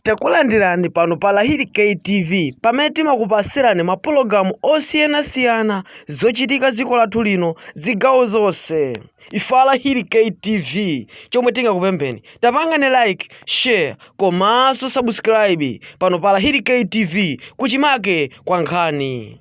Takulandirani pano pa Lahiri K TV pamene timakupasirani ma pologalamu osiyana siyana zochitika ziko lathu lino zigawo zonse. Ife a Lahiri K TV chomwe tingakupempheni tapangani like, share komanso subscribe pano pa Lahiri K TV kuchimake kwa nkhani.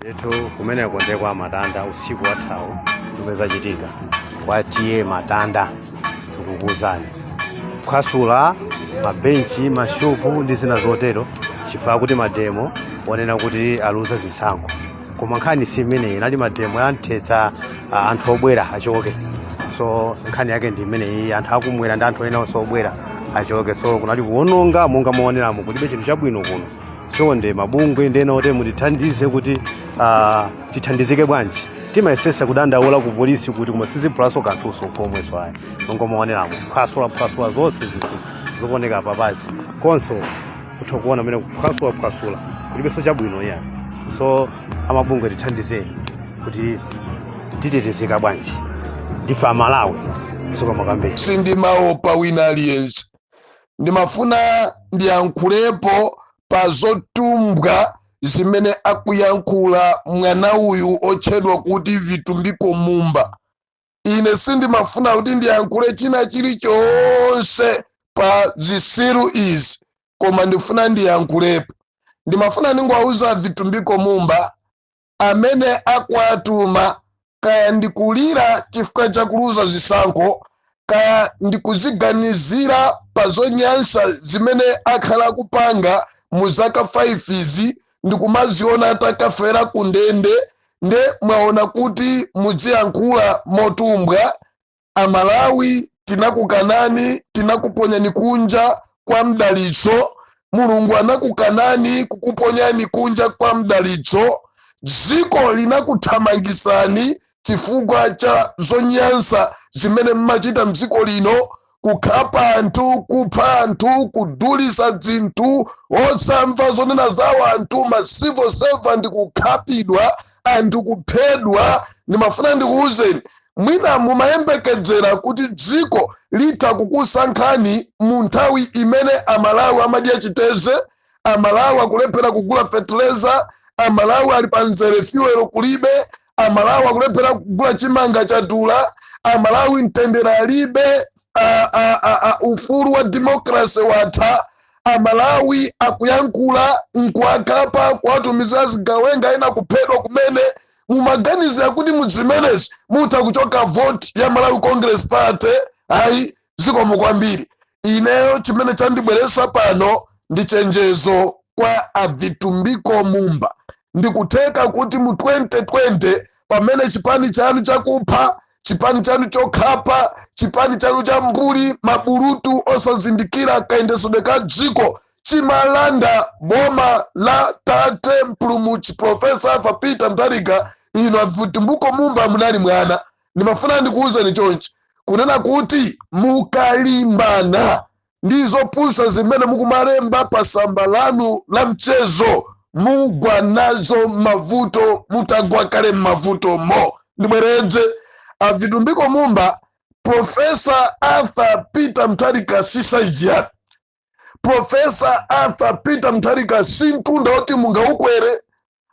Ndithu kumeneko ndiye kwa matanda usiku wathawu zomwe zachitika kwa tiye matanda tikukuwuzani kuphwasula mabenchi mashopu ndi zina zotero chifukwa choti mademo onena kuti aluza zisankho koma nkhani si imeneyi inali mademo yanthetsa ah, anthu obwera achoke so nkhani yake ndi imeneyi anthu akumwera ndi anthu ena onse obwera achoke so kunali kuwononga monga muoneramo kulibe chinthu chabwino kuno chonde mabungwe ndi ena otero mutithandize kuti ah, tithandizike bwanji timayesesa kudandaula ku polisi kuti koma siziphulanso kanthunso komwenso ayi monga muoneramo phwasula phwasula zonse zinthu zooneka papazi konso mutha kuona mene kuphwasula phwasula kulibenso chabwino iyayi so amabungwe tithandizeni kuti titetezeka bwanji ndife amalawi Sokamakambeni sindimaopa wina aliyense ndimafuna ndiyankhulepo pa zotumbwa zimene akuyankhula mwana uyu otchedwa kuti vitumbiko mumba ine sindimafuna kuti ndiyankhule china chilichonse pa zisiru izi koma ndifuna ndiyankhulepo ndimafuna ndingowauza vitumbiko mumba amene akuwatuma kaya ndi kulira chifukwa cha kuluza zisankho kaya ndi kuziganizira pa zonyansa zimene akhala akupanga mu zaka 5 izi ndi kumaziona atakafera ku ndende nde mwaona kuti mudziyankhula motumbwa Amalawi tinakukanani tinakuponyani kunja kwa mdalitso mulungu anakukanani kukuponyani kunja kwa mdalitso dziko linakuthamangisani chifukwa cha zonyansa zimene mmachita mdziko lino kukhapa anthu kupha anthu kudulisa dzinthu osamva zonena za wanthu ma civil servant kukhapidwa anthu kuphedwa ndimafuna ndikuwuzeni Mwina mumayembekedzera kuti dziko litha kukusankhani mu nthawi imene a Malawi amadya chiteze, a Malawi akulephera kugula fetereza, a Malawi ali pa mzere fuel kulibe, a Malawi akulephera kugula chimanga chadula, a Malawi mtendere alibe, a, a, a, a, ufulu wa democracy watha, amalawi akuyankhula nkuwakhapa kuwatumiza azigawenga ena kuphedwa kumene mumaganizira kuti mudzimenezi mutha kuchoka voti ya malawi congress party ayi zikomo kwambiri ineyo chimene chandibweresa pano ndi chenjezo kwa abvitumbiko mumba ndikutheka kuti mu 2020 pamene chipani chanu chakupha chipani chanu chokhapa chipani chanu cha mbuli mabulutu osazindikira kayendesedwe ka dziko chimalanda boma la tate mpulumutsi profesa arthur peter mutharika inu avitumbiko mumba munali mwana ndimafuna ndikuwuzeni chonchi kunena kuti mukalimbana ndi zopusa zimene mukumalemba pa samba lanu la mchezo mugwa nazo mmavuto mutagwa kale mmavuto mo ndibweredze avitumbiko mumba profesa arthur peter mutharika si saizi yanu profesa arthur peter mutharika si mtunda woti mungaukwere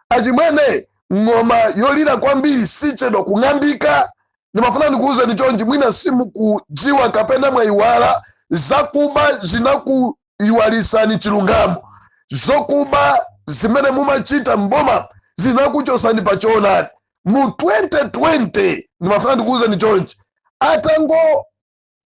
achimwene ng'oma yolira kwambiri sichedwa kung'ambika ndimafuna ndikuwuzeni chonchi mwina simukudziwa kapena mwayiwala zakuba zinakuyiwalisani chilungamo zokuba zimene mumachita mboma zinakuchosani pa choonadi mu 2020 ndimafuna ndikuwuzeni chonchi atango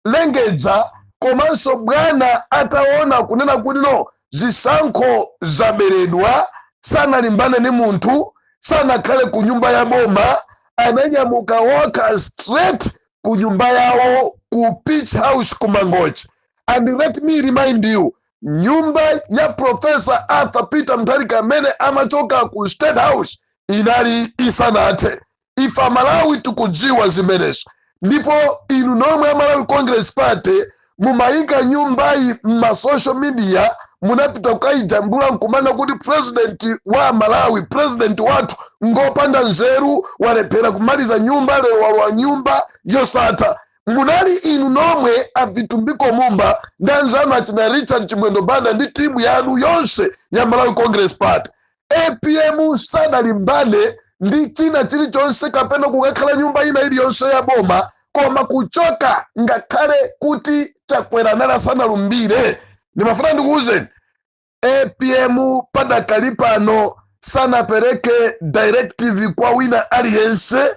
lengedza komanso bwana ataona kunena kuti no zisankho zaberedwa sanalimbane ni munthu sanakhale ku nyumba ya boma ananyamuka walk straight ku nyumba yawo ku page house ku mangochi and let me remind you nyumba ya profesa arthur peter mutharika amene amachoka ku state house inali isanathe ife amalawi tikudziwa zimenezo ndipo inu nomwe amalawi congress party mumayika nyumbayi mma social media munapita kukayijambula nkumanena kuti president wa malawi president wathu ngopanda nzeru walephera kumaliza nyumba lero walowa nyumba yosatha munali inu nomwe avitumbiko mumba ndi anzanu achina richard chimwendo banda ndi timu yanu yonse ya malawi congress party apm sanalimbane ndi china chilichonse kapena kukakhala nyumba ina iliyonse ya boma koma kuchoka ngakhale kuti chakwera anali asanalumbire ndimafuna ndikuwuzeni apm padakali pano sanapereke directive kwa wina aliyense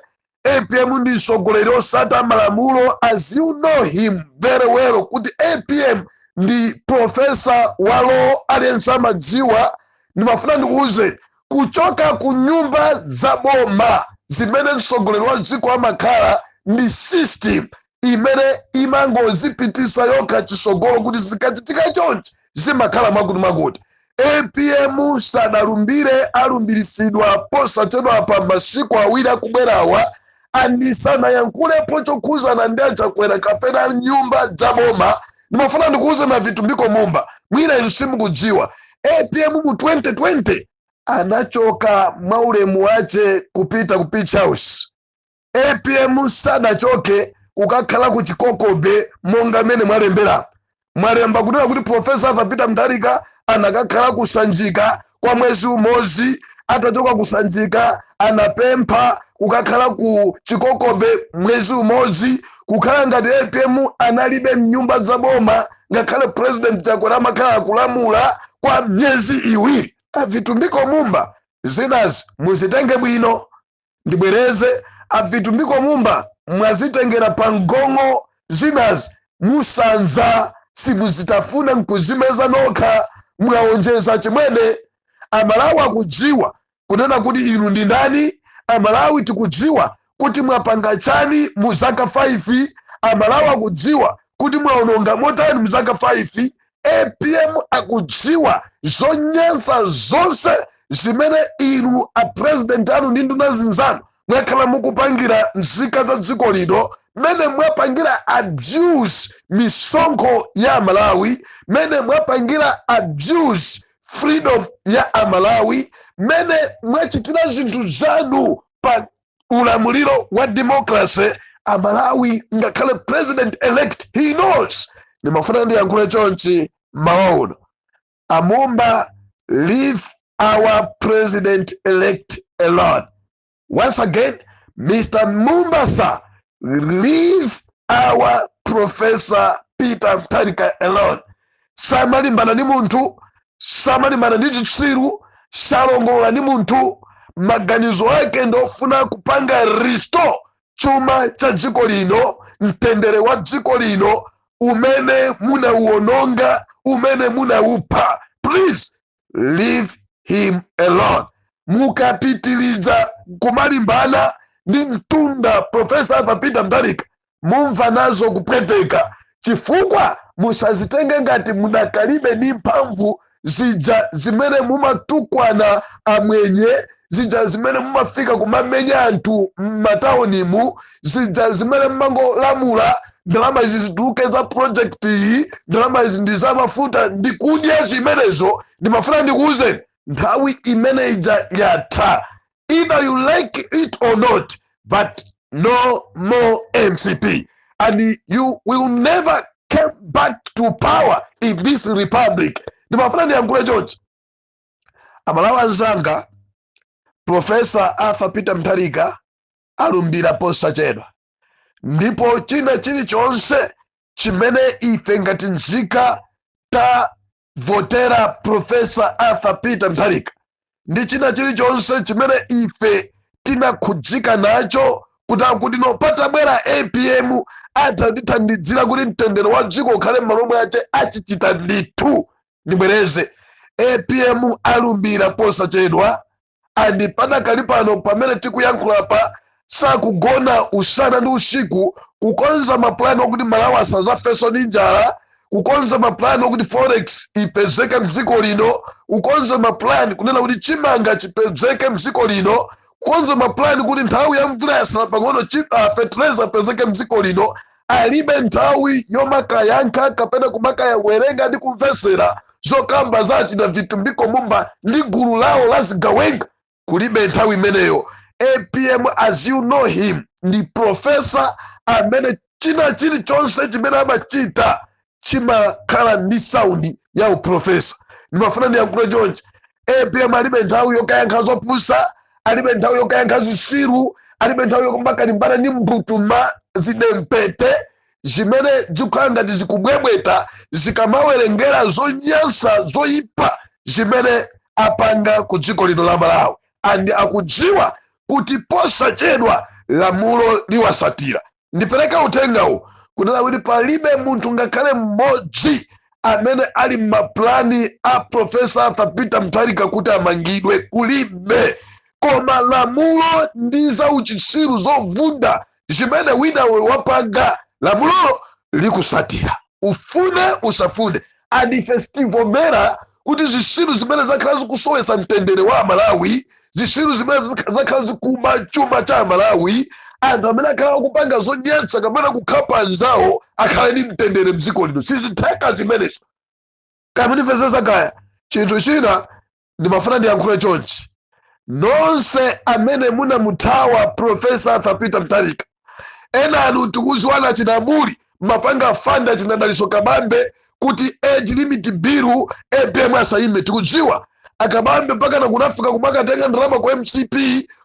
apm ndi mtsogoleri osata malamulo as you know him very well kuti apm ndi profesa wa law aliyense amadziwa ndimafuna ndikuwuzeni kuchoka ku nyumba za boma zimene mtsogoleri wa dziko amakhala ndi system imene imangozipitisa yokha chisogolo kuti zikachitika chonchi zimakhala mwakuti mwakuti apm sadalumbire alumbiritsidwa posachedwa pa masiku awiri akubwerawa and sanayankhulepo chokhuzana ndi achakwera kapena nyumba za boma ndimafuna ndikuuzeni a vitumbiko mumba mwina inu simukudziwa apm mu 2020 anachoka mwaulemu wache kupita ku page house apm sanachoke kukakhala ku chikoko bay monga mmene mwalembera mwalemba kunena kuti profesa arthur peter mutharika anakakhala kusanjika kwa mwezi umodzi atachoka kusanjika anapempha kukakhala ku chikoko bay mwezi umodzi kukhala ngati apm analibe mnyumba za boma ngakhale president chakwera amakhala akulamula kwa myezi iwiri a vitumbiko mumba zinazi muzitenge bwino ndibwereze a vitumbiko mumba mwazitengera pa mgong'o zinazi musanza simuzitafuna nkuzimeza nokha mwaonjeza achimwene amalawi akudziwa kunena kuti inu ndi ndani amalawi tikudziwa kuti mwapanga chani mu zaka 5 amalawi akudziwa kuti mwaononga motani mu zaka 5 apm akudziwa zonyansa zonse zimene inu apurezidenti anu ndi nduna zinzanu mwakhala mukupangira nzika za dziko lino mmene mwapangira abuse misonkho ya amalawi mmene mwapangira abuse freedom ya amalawi mmene mwachitira zinthu zanu pa ulamuliro wa democracy amalawi ngakhale president elect he knows ndimafuna ndiyankhule chonchi mawa uno amumba leave our president elect alone once again mr mumba sir leave our professor peter mutharika alone samalimbana ndi munthu samalimbana ndi chitsiru salongolola ndi munthu maganizo ake ndi ofuna kupanga restore chuma cha dziko lino mtendere wa dziko lino umene munauononga umene munaupha please leave him alone mukapitiliza kumalimbana ndi mtunda profesa arthur peter mutharika mumva nazo kupweteka chifukwa musazitenge ngati mudakalibe ndi mphamvu zija zimene mumatukwana amwenye zija zimene mumafika kumamenya anthu m'mataunimu zija zimene mumangolamula ndalama izi zituluke za project iyi ndalama izi ndi za mafuta ndikudya zimenezo ndimafuna ndikuwuzeni nthawi imene ija yatha either you like it or not but no more mcp and you will never come back to power in this republic ndimafuna ndiyankhule chonchi amalawi anzanga profesa arthur peter mutharika alumbira posachedwa ndipo china chilichonse chimene ife ngati nzika votera profesa arthur peter mutharika ndi china chilichonse chimene ife tinakhudzika nacho kuti akuti no patabwera apm atithandizira kuti mtendere wa dziko ukhale m'malo mwace achichita ndithu ndibwereze apm alumbira posachedwa and padakali pano pamene tikuyankhulapa sakugona usana ndi usiku kukonza mapulani okuti malawi asazafeso ndi njala kukonza mapulani okuti forex ipezeke mdziko lino kukonza mapulani kunena kuti chimanga chipezeke mdziko lino kukonza mapulani kuti nthawi ya mvula yasala pang'ono fertilizer apezeke mdziko lino alibe nthawi yomakayankha kapena kumakayawerenga ndi kumvesera zokamba za a tina vitumbiko mumba ndi gulu lawo la zigawenga kulibe nthawi imeneyo apm as you know him ndi profesa amene china chilichonse chimene amachita chimakhala ndi saundi ya uprofesa ndimafuna ndiyankhule chonchi apm alibe nthawi yokayankha zopusa alibe nthawi yokayankha zisiru alibe nthawi yomakalimbana ndi mbutuma zidempete zimene zikukhala ngati zikubwebweta zikamawerengera zonyansa zoyipa zimene apanga ku dziko lino la malawi and akudziwa kuti posachedwa lamulo liwasatira ndipereke uthengawu kunena kuti palibe munthu ngakhale mmodzi amene ali mmaplani a profesa arthur peter mutharika kuti amangidwe kulibe koma lamulo ndi za uchitsiru zovunda zimene winawe wapanga lamulolo likusatira ufune usafune and ife sitivomera kuti zisiru zimene zakhala zikusowesa mtendere wa amalawi zisiru zimene zakhala zikuba chuma cha amalawi anthu amene akhala akupanga zonyatsa kapena kukhapa anzawo akhale ndi mtendere mdziko lino sizitheka zimenezo kaya mundimvetsesa kaya chinthu china ndimafuna ndiyankhule chonchi nonse amene munamuthawa profesa arthur peter mutharika ena anu tikuziwana china mbuli mapanga fanda chinadaliso kabambe kuti age limit bill apm asayime tikudziwa akabambe mpaka nakunafika kumakatenga ndalama kwa mcp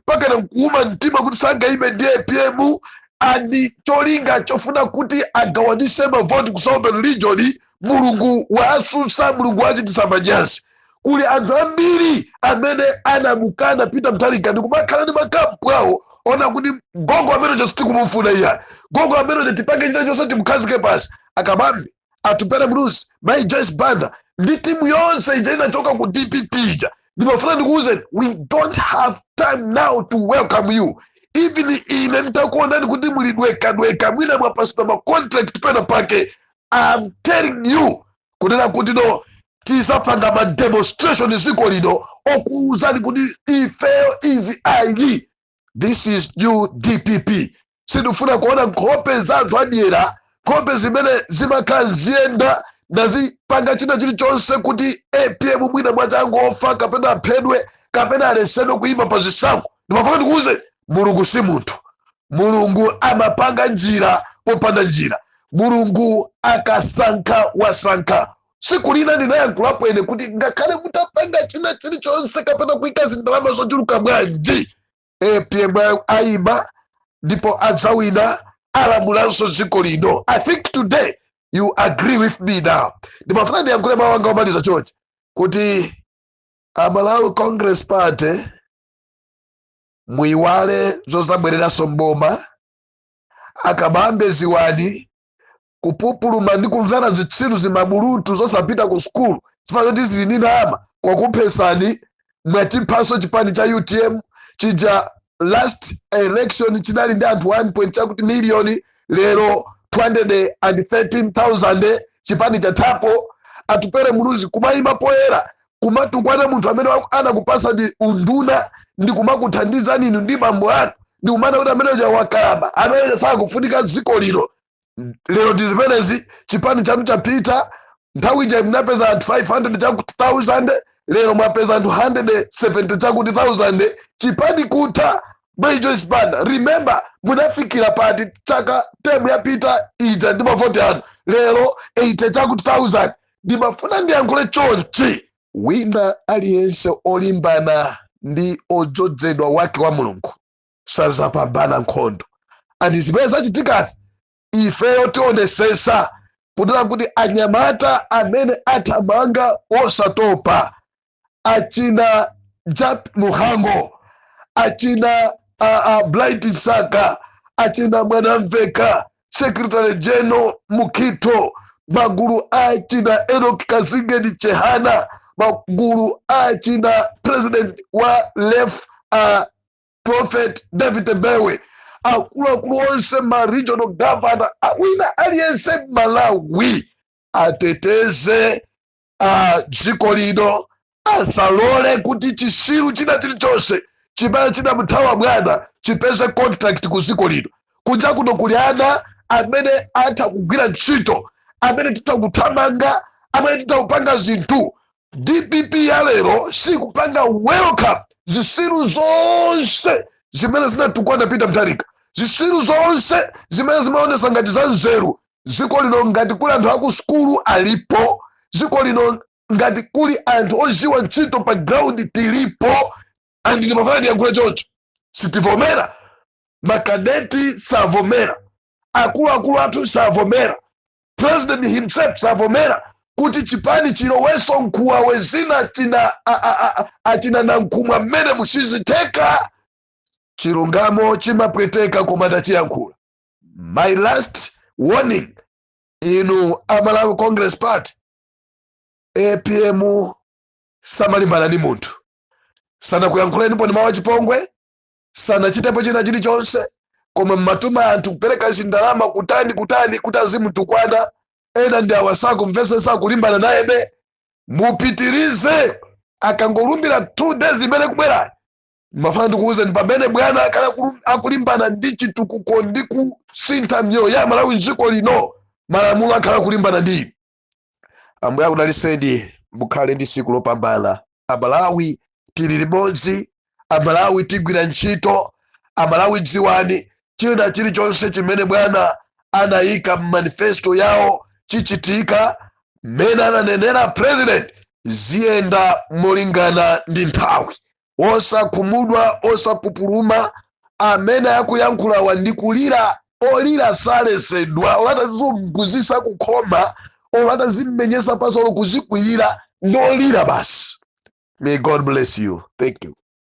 mpaka nakuuma mtima kuti sangayime ndi apm and cholinga chofuna kuti agawanise mavoti ku southern region mulungu wawatsutsa mulungu wawachititsa manyazi kuli anthu ambiri amene anamukana peter mutharika ndikumakhala ndi makampu awo onena kuti gogo ameneyo sitikumufuna iya gogo ameneyo tipange china chonse timukhazike pansi a kabambe atupere muluzi mai joyce banda ndi timu yonse ija inachoka ku dpp ija ndimafuna ndikuwuzeni we don't have time now to welcome you even ine nditakuonani kuti mulidwekadweka mwina mwapatsidwa macontract pena pake i am telling you kunena kuti no tidzapanga ma demonstration dziko lino okuwuzani kuti ifeyo izi ayi this is new dpp sindifuna kuona nkhope za anthu adyera nkhope zimene zimakhala zikuyenda n'kumapanga china chilichonse kuti apm mwina angofa kapena aphedwe kapena aletsedwe kuyima pa zisankho ndimafuna ndikuuze, Mulungu si munthu. Mulungu amapanga njira popanda njira. Mulungu akasankha wasankha. Tsiku lina ndinayankhulapo ine kuti ngakhale mutapanga china chilichonse kapena kuika zindalama zochuluka bwanji, apm ayima ndipo adzawina alamulanso dziko lino. I think today you agree with me now. Ndimafuna ndiyankhule mawu anga omaliza chonchi kuti a Malawi Congress Party muiwale zozabwereranso mboma a kabambe dziwani kupupuluma ndi kumvera zitsiru zimabulutu zosapita ku sukulu chifukwa choti zili ndi ndalama kwakuphetsani mwachiphaso chipani cha utm chija last election chinali ndi anthu 1 chakuti miliyoni lero 213,000 chipani chathapo atupere muluzi kumayima poyera kumatukwana munthu amene anakupatsani unduna ndi kumakuthandizani inu ndi bambo anu ndi kumanena kuti amene uja wakalamba amene uja sakufunika dziko lino lero ndi zimenezi chipani chanu chapita nthawi ija munapeza anthu 500 chakuti 1000 lero mwapeza anthu 170 chakuti 1000 chipani kutha mai joyce banda remember munafikira pati chaka temu yapita ija ndi mavoti anu lero 80 chakuti 1000 ndimafuna ndiyankhule chonchi. Wina aliyense olimbana ndi odzodzedwa wake wa Mulungu sadzapambana nkhondo. And zimene zachitikazi ifeyo tionetsetsa kunena kuti anyamata amene athamanga osatopa achina jap muhango achina uh, uh, blight saka achina mwanamveka secretary general mukito magulu achina enok kazingeni chehana magulu achina president wa lef uh, prophet david bewe akuluakulu onse ma regional governor wina aliyense malawi ateteze a dziko lino asalole kuti chitsiru china chilichonse chimene chinamuthawa bwana chipeze contract ku dziko lino kunja kuno kuli ana amene atha kugwira ntchito amene titha kuthamanga amene titha kupanga zinthu dpp ya lero sikupanga welcome zitsiru zonse zimene zinatukwana peter mutharika zitsiru zonse zimene zimaonetsa ngati za nzeru dziko lino ngati kuli anthu akusukulu alipo dziko lino ngati kuli anthu oziwa ntchito pa ground tilipo andi ndimafuna ndiyankhule choncho sitivomera makadeti savomera akuluakulu athu savomera president himself savomera kuti chipani chiloweso nkhuwawe zina achina a- a- a- achina nankhumwa mmenemu sizitheka chilungamo chimapweteka koma ndachiyankhula my last warning inu amalawi congress party apm samalimbana ndi munthu sanakuyankhuleniponi mawu achipongwe sanachitepo china chilichonse koma mmatuma anthu kupereka chindalama kutani kutani kuti azimutukwana ena ndi awa sakumvesesa akulimbana nayebe mupitirize akangolumbira two days imene ikubwera mafana ndikuwuzeni pamene bwana akhala akulu- akulimbana ndi chitukuko ndi kusintha miyoyo ya amalawi mdziko lino malamulo akhala akulimbana ndi inu ambuye akudaliseni mukhale ndi siku lopambana amalawi tili limodzi amalawi tigwira ntchito amalawi dziwani china chilichonse chimene bwana anayika mmanifesto yawo chichitika mmene ananenera president ziyenda molingana ndi nthawi osakhumudwa osapupuluma amene akuyankhulawa ndi kulira olira salesedwa olo atazizunguzisa kukhoma olo atazimenyesa pansi olo kuzikwirira ndolira basi may god bless you thank you